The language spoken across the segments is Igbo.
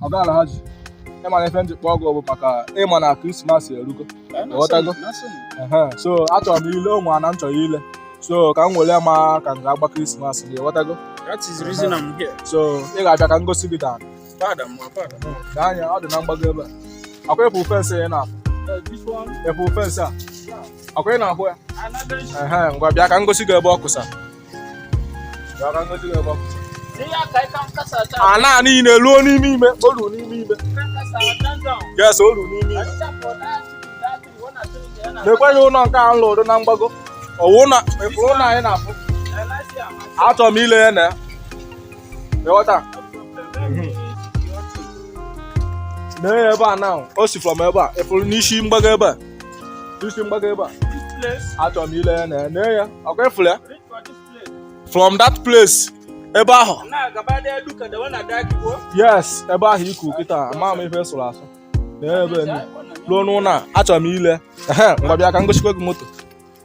ọga alhaji ị ma na ife m ji kpọọ gị bụ maka ị ma na krismas erugo ghọtago so achọrọ m ile o nwe ana m chọrọ ile so ka m were ma ka m ga-agba krismas ị ghọtago so ị ga-abịa ka m gosi gị daa anya ọ dị na mgbago ebe a ọkwa ị fụ fensị ị na-afụ ị fụ fensị a ọkwa ị na-ahụ ya ngwa bịa ka m gosi gị ebe ọ kụsa ana niile ruo n'ime ime o lu n'ime ime yes o lu n'ime ime na-ekweghị ụlọ nke a m lụrụ na mgbago ọwụ na ụlọ anyị na-afụ achọrọ m ile ya na ya ị ghọta na ebe a na o si from ebe a ị fụrụ n'isi mgbago ebe a isi mgbago ebe a achọrọ m ile ya na ya nee ya ọkwa ị fụla ya from that place ebe ahụ yes ebe ahụ iku kịta ama m ife sụrụ asụ na ebe ruo n'ụlọ a achọrọ m ile ngwa bịa ka m gosikwa gị moto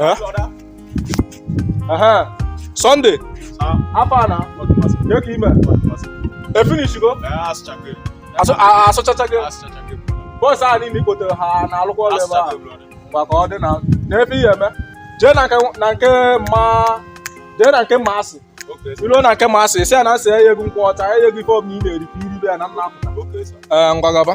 Eh? Aha. Sunday. Afa na? Ke ka i me? I finishigo? Asụchachago. Boys a niile i kpotere ha na-alụkwa ọrụ ebe a. Mgba ka ọ dị na n'ebe ihe eme. Jee na nke mma jee na nke mma asị. I ruo na nke mma asị, sị ya na m sị ya nye gị nkwụ ọcha, ya nye gị ife ọbụla ị na-eri ka i ribe ya na m na-apụta. Ee, ngwa gaba.